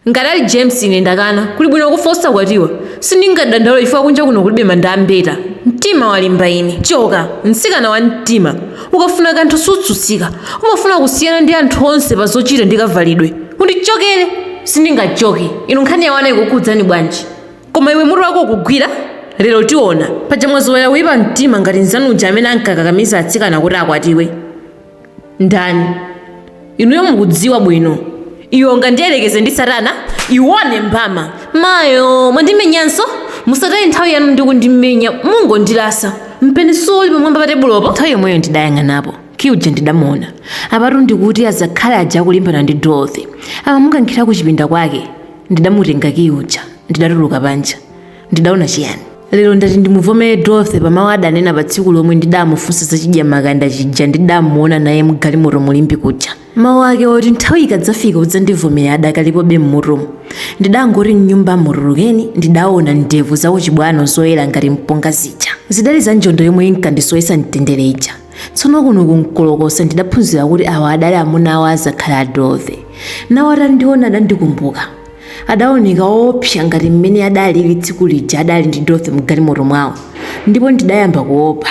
ngati ali james ine ndakana kuli bwino kufa osakwatiwa sindingadandaule chifukwa kunja kuno kulibe manda a mbeta mtima walimba ine choka mtsikana wa mtima ukafuna kanthu sutsutsika umafuna kusiyana ndi anthu onse pa zochita ndi kavalidwe undichokere sindingachoke inu nkhani yawana ikukhudzani bwanji koma iwe mutu wako ukugwira lero tiona paja mwazowera kuyipa mtima ngati mzanu uja amene ankakakamiza atsikana kuti akwatiwe Ndani? Inuyo mukudziwa bwino. Iwe ungandiyerekeze ndi Satana? Iwone mbama! Mayoo! Mwandimenyanso? Musataye nthawi yanu ndi kundimenya, mungondilasa. Mpeni suwo uli pamwamba pa tebulopo. Nthawi yomweyo ndidayang'anapo, Kiyi uja ndidamuona. Apatu ndikuti azakhali aja akulimbana ndi Dorothy. Amamukankhira kuchipinda kwake. Ndidamutenga Kiyi uja, ndidatuluka panja. Ndidaona chiyani? Lero ndati ndimuvomere Dorothy pa mawu adanena pa tsiku lomwe ndidamufunsa za chidyamakanda chija ndidamuona naye mgalimoto mu Limbe kuja. Mawu ake oti nthawi ikadzafika udzandivomera adakalipobe m'mutumu. Ndidangoti m'nyumbamo tulukeni, ndidaona ndevu za kuchibwano zoyera ngati mpunga zija. Zidali za njonda yomwe inkandisowetsa mtendere ija. tsono kuno ku nkolokosa ndidaphunzira kuti awa adali amuna awo azakhali a dorothy nawo atandiona adandikumbuka adaoneka oopsa ngati mmene adalili tsiku lija adali ndi dorothy mgalimoto mwawo ndipo ndidayamba kuopa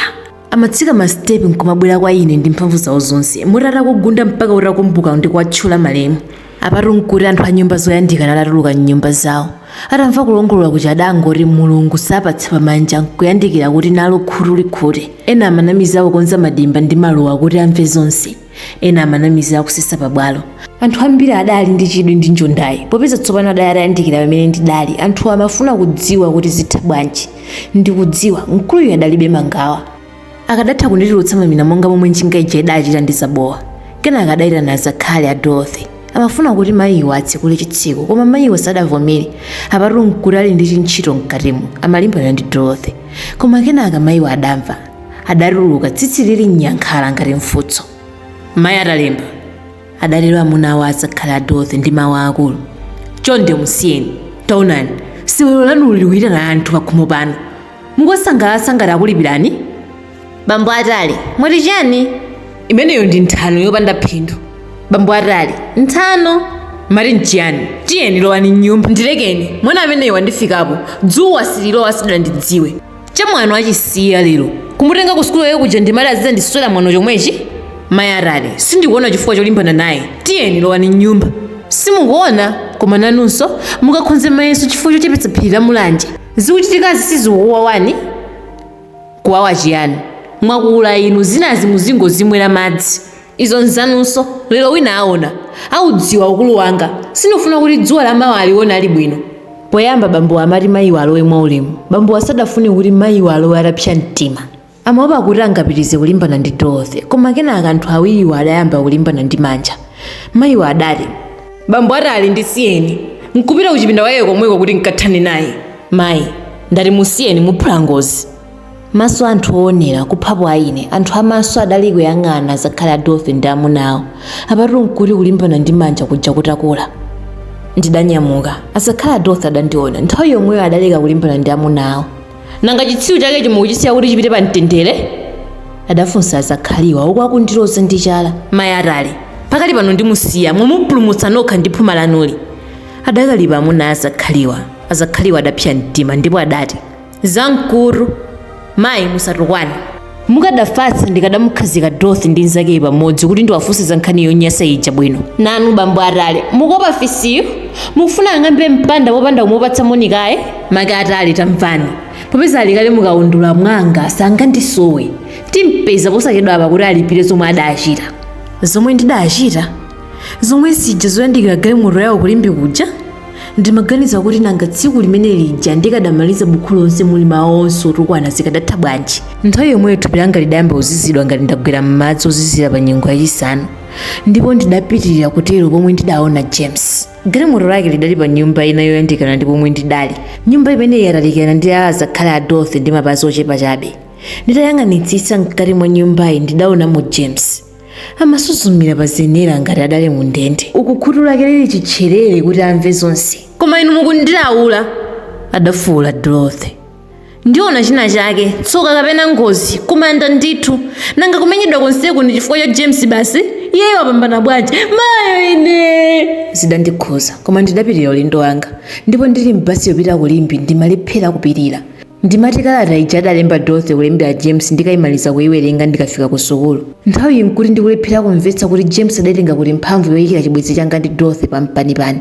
amatsika masitepi nkumabwera kwa ine ndi mphamvu zawo zonse moti atakugunda mpaka utakumbuka ndi kuwatchula malemu Apatu n'kuti anthu a nyumba zoyandikana atatuluka m'nyumba zawo. Atamva kulongolola kuja adangoti Mulungu sapatsa pamanja n'kuyandikira kuti nalo khutu likhute. Ena amanamiza akukonza madimba ndi maluwa kuti amve zonse. Ena amanamiza akusesa pabwalo. Anthu ambiri adali ndi chidwi ndi njondayi. Popeza tsopano adali atayandikira pamene ndidali, anthuwo amafuna kudziwa kuti zitha bwanji. Ndikudziwa, mkuluyu adalibe mangawa. akadatha kunditulutsa mamina monga momwe njinga ija idachita ndi zabowa kenaka adayitana azakhali a dorothy amafuna kuti mayiwo atsekule chitseko koma mayiwo sadavomere apatu nkuti ali ndi chintchito mkatimo amalimbana ndi dorothy koma kenaka mayiwo adamva adatuluka tsitsi lili nyankhala ngati mfutso mayi atalemba adatero amuna awo azakhali a dorothy ndi mawu aakulu chonde musiyeni taonani sewero lanu likuitana anthu pakhomo pano mukuwasangalatsa ngati akulipirani bambo atale mwati chani imeneyo ndi nthano yopanda phindu bambo atale nthano mati nchiyani tiyeni lowani mnyumba ndilekeni mwana ameneyo wandifikapo dzuwa sililowa sadandidziwe chamwano achisiya lero kumutenga ku sukulu yawo kuja ndimati azidzandiswera mwano chomwechi mayi atale sindikuona chifukwa cholimbana naye tiyeni lowani mnyumba simukuona koma nanunso mukakhonze mayeso chifukwa chochepetsa phiri la mulanje Zikuchitikazi sizikukuwawani? Kuwawa chiyani? Mwakula inu, zinazi muzingozimwera madzi. Izo nzanunso, lero wina aona. Audziwa ukulu wanga. Sindikufuna kuti dzuwa la mawa alione ali bwino. Poyamba bambowa amati mayiwa alowe mwaulemu. Bambowa sadafune kuti mayiwa alowe atapsa mtima. Amaopa kuti angapitirize kulimbana ndi Dorothy. Koma kenaka anthu awiriwo adayamba kulimbana ndi manja. Mayiwo adati. Bambo atale, ndisiyeni, nkupita kuchipinda kwake komweko kuti nkathane naye. Mayi, ndati musiyeni, muphula ngozi. Maso a anthu oonera, kuphapo a ine, anthu a maso adali kuyang'ana azakhali a Dorothy ndi amuna awo. Apatu nkuti kulimbana ndi manja kuja kutakula. Ndidanyamuka. Azakhali a Dorothy adandiona. Nthawi yomweyo adaleka kulimbana ndi amuna awo. nanga chitsiru chakecho mukuchisiya kuti chipite pa mtendere adafunsa azakhaliwa uku akundiloza ndi chala mayi atale pakali pano ndimusiya mwamupulumutsa nokha ndi phuma lanuli adakalipa amuna azakhaliwa azakhaliwa adapsa mtima ndipo adati zamkutu mayi musatukwane mukadafatsa ndikadamukhazika dorothy ndi nzakeyi pamodzi kuti ndiwafunse za nkhani yonyasa ija bwino nanu bambo atale mukuopa fisiyo mukufuna ang'ambe mpanda popanda kumupatsa moni kaye make atale tamvani popeza ali kale mukaundula mwanga sangandisowe timpeza posachedwa apa kuti alipire zomwe adachita zomwe ndidachita zomwe zija zoyandikira galimoto yawo ku limbe kuja ndimaganiza kuti nanga tsiku limene lija ndikadamaliza bukhu lonse muli mawu onse otukwana zikadatha bwanji nthawi yomweyo thupi langa lidayamba kuzizidwa ngati ndagwera m'madzi ozizira pa nyengo yachisanu ndipo ndidapitirira kutero pomwe ndidaona james galimoto lake lidali pa nyumba ina yoyandikana ndi pomwe ndidali nyumba imeneyi yatalikirana ndi ya azakhali a dorothy ndi mapazi ochepa chabe nditayang'anitsitsa mkati mwa nyumbayi ndidaonamo james amasuzumira pa zenera ngati adali mu ndende uku khutu lake lili chitcherere kuti amve zonse koma inu mukundilaula adafuwula dorothy ndiona china chake tsoka kapena ngozi kumanda ndithu nanga kumenyedwa konseku ndi chifukwa cha james basi iyeyo wapambana bwanji mayo ine zidandikhudza koma ndidapitira ulendo wanga ndipo ndili m'basi yopita ku limbe ndimalephera kupirira Ndimati kalata ija adalemba Dorothy kulembera James ndikaimaliza kuiwerenga ndikafika kusukulu, nthawiyi n'kuti ndikulephera kumvetsa kuti James adaitenga kuti mphamvu yoikira chibwenzi changa ndi Dorothy pampanipani.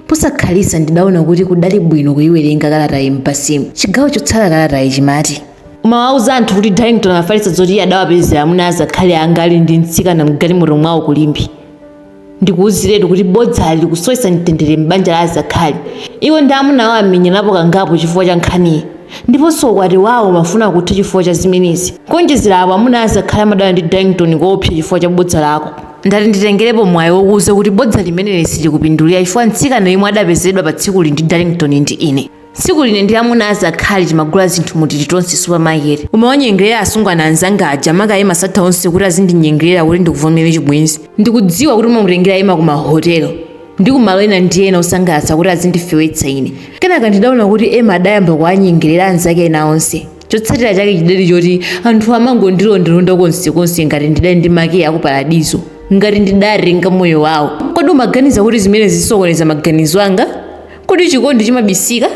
Posakhalitsa ndidaona kuti kudali bwino kuiwerenga kalatayi m'basimu. Chigawo chotsala kalatayi chimati. Umawauza anthu kuti Darlington afalitsa zoti iye adawapezera amuna a azakhali anga ali ndi mtsikana m'galimoto mwawo ku Limbe. Ndikuuziretu kuti bodzali likusowetsa mtendere m'banja la azakhali. Iwo ndi amuna awo amenyanapo kangapo chifukwa cha nkhaniyi. Ndiponso ukwati wawo umafuna kutha chifukwa cha zimenezi. Kuonjezera apo, amuna a azakhali amadana ndi Darlington koopsa chifukwa cha bodza lako. Ndati nditengerepo mwayi wokuuza kuti bodza limeneli silikupindulira chifukwa mtsikana yemwe adapezedwa patsikuli ndi Darlington ndi ine. Siku line ndi amuna azakhali timagula zinthu mu Tilitonse supermarket. Umawanyengerera asungwana anzanga aja maka Emma satha onse kuti azindinyengerera kuti ndikuvomere chibwenzi. Ndikudziwa kuti umamutengera Emma ku mahotelo ndi ku malo ena ndi ena osangalatsa kuti azindifewetsa ine. Kenaka ndidaona kuti Emma adayamba kuwanyengerera anzake ena onse. Chotsatira chake chidali choti anthu amangondilondalonda konsekonse ngati ndidali ndi makiyi a ku Paradizo, ngati ndidatenga moyo wawo. Kodi umaganiza kuti zimenezi zisokoneza maganizo anga? Kodi chikondi chimabisika?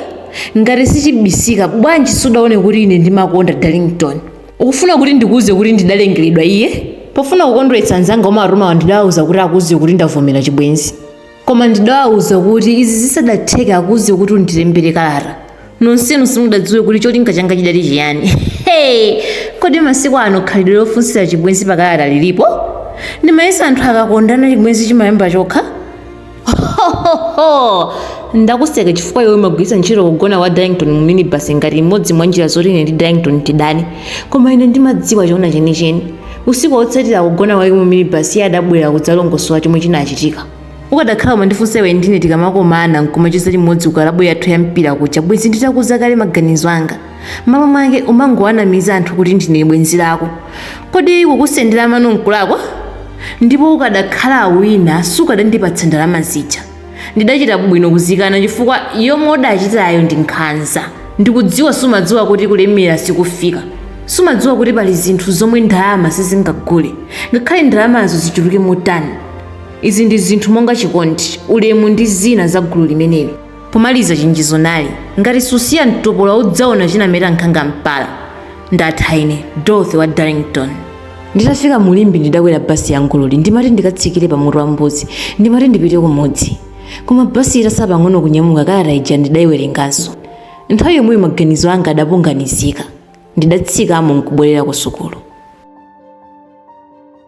Ngati sichibisika, bwanji sudaone kuti ine ndimakonda Darlington? Ukufuna kuti ndikuuze kuti ndidalengeredwa iye? Pofuna kukondweretsa anzanga umatumawa ndidawauza kuti akuuze kuti ndavomera chibwenzi. Koma ndidawauza kuti izi zisadatheke akuuze kuti undilembere kalata. Nonsenu simudadziwe kuti cholinga changa chidali chiyani. Hey! Kodi masiku ano khalidwe lofunsira chibwenzi pakalata lilipo? Ndimayesa anthu akakondana chibwenzi chimayamba chokha? hohoho ndakuseka chifukwa iwe umagwiritsa ntchito kugona kwa darlington mu minibus ngati imodzi mwa njira zoti ine ndi darlington tidane koma ine ndimadziwa chona chenicheni usiku wotsatira kugona kwake mu minibus iye adabwera kudzalongosola chomwe chinachitika ukadakhala umandifunsa iwe ndi ine tikamakomana nkumacheza limodzi ku kalabu yathu ya mpira kuja bwenzi nditakuuza kale maganizo anga m'malo mwake umangowanamiza anthu kuti ndine bwenzi lako kodi kukusendera mano nkulakwa ndipo ukadakhala wina sukadandipatsa ndalama zija ndidachita bwino kuzikana chifukwa yomwe udachitayo ndi nkhanza ndikudziwa sumadziwa kuti kulemera sikufika sumadziwa kuti pali zinthu zomwe ndalama sizingagule ngakhale ndalamazo zichuluke motani izi ndi zinthu monga chikondi ulemu ndi zina za gulu limeneli Pomaliza chenjezo nali, Ngati susiya mtopola udzaona chinameta nkhanga mpala. Ndatha ine, Dorothy wa Darlington. Nditafika mu Limbe ndidakwera basi ya Ngololi ndimati ndikatsikire pa Mutu wa Mbuzi ndimati ndipite kumudzi. Koma basi itatsala pang'ono kunyamuka kalata ija ndidaiwerenganso. Nthawi yomweyo maganizo anga adapunganizika. Ndidatsikamo n'kubwerera kusukulu.